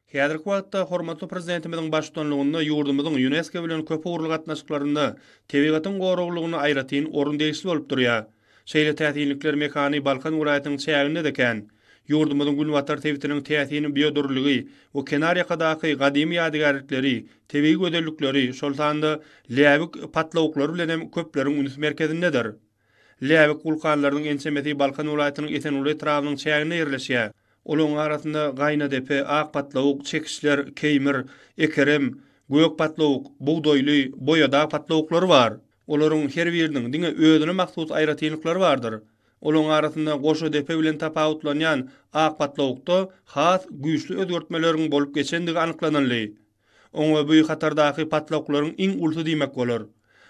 Häzirki wagtda hormatly Prezidentimiziň baştutanlygynda ýurdumyzyň Ýunesko bilen köpugurly gatnaşyklarynda tebigatyň goraglylygyna aýratyn orun degişli bolup durýar. Şeýle täsinlikler mekany Balkan welaýatynyň çäginde-de kän. Ýurdumyzyň günbatar sebitiniň täsin biodürlüligi we kenarýakadaky gadymy ýadygärlikleri, tebigy gözellikleri, şol sanda läbik patlawuklary bilen hem köpleriň üns merkezindedir. Läbik wulkanlarynyň ençemesi Balkan welaýatynyň Esenguly etrabynyň çäginde ýerleşýär. Olaryň arasynda Gaýnadepe, Ak patlawuk, Çekişler, Keýmir, Ekerem, Gök patlawuk, Bugdaýly, Boýadag patlawuklary bar. Olaryň her biriniň diňe özüne mahsus aýratynlyklary bardyr. Olaryň arasynda Goşadepe bilen tapawutlanýan Ak patlawukda has güýçli özgertmeleriň bolup geçendigi anyklanyldy. Oňa bu hatardaky patlaklaryň iň ulusy diýmek bolar.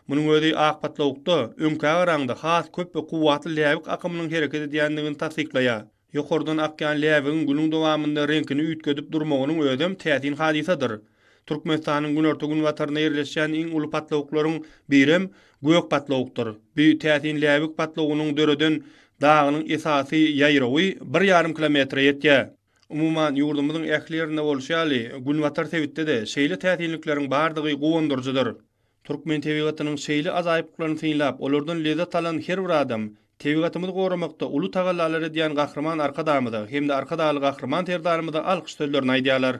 Munuň özi ak patlawukda, öňkä garaňda has köp we kuwwatly läbik akymynyň hereket edýändigini tassyklaýar. Ýokardan akýan läbigiň günüň dowamynda reňkini üýtgedip durmagynyň özem täsin hadysadyr. Türkmenistanyň günorta-günbatarynda ýerleşýän iň uly patlawuklaryň birem gök patlawukdyr. Bu täsin läbik patlawugynyň döreden dagynyň esasy ýaýrawy bir ýarym kilometre ýetýär. Umuman, ýurdumyzyň ähli ýerinde bolşy ýaly, günbatar sebitde-de şeýle täsinlikleriň bardygy guwandyryjydyr. Türkmen tebigatynyň şeýle ajaýyplyklaryny synlap, olardan lezzet alan her bir adam tebigatymyzy goramakda uly tagallalar edýän Gahryman Arkadagymyza hem-de Arkadagly Gahryman Serdarymyza alkyş sözlerini aýdýarlar.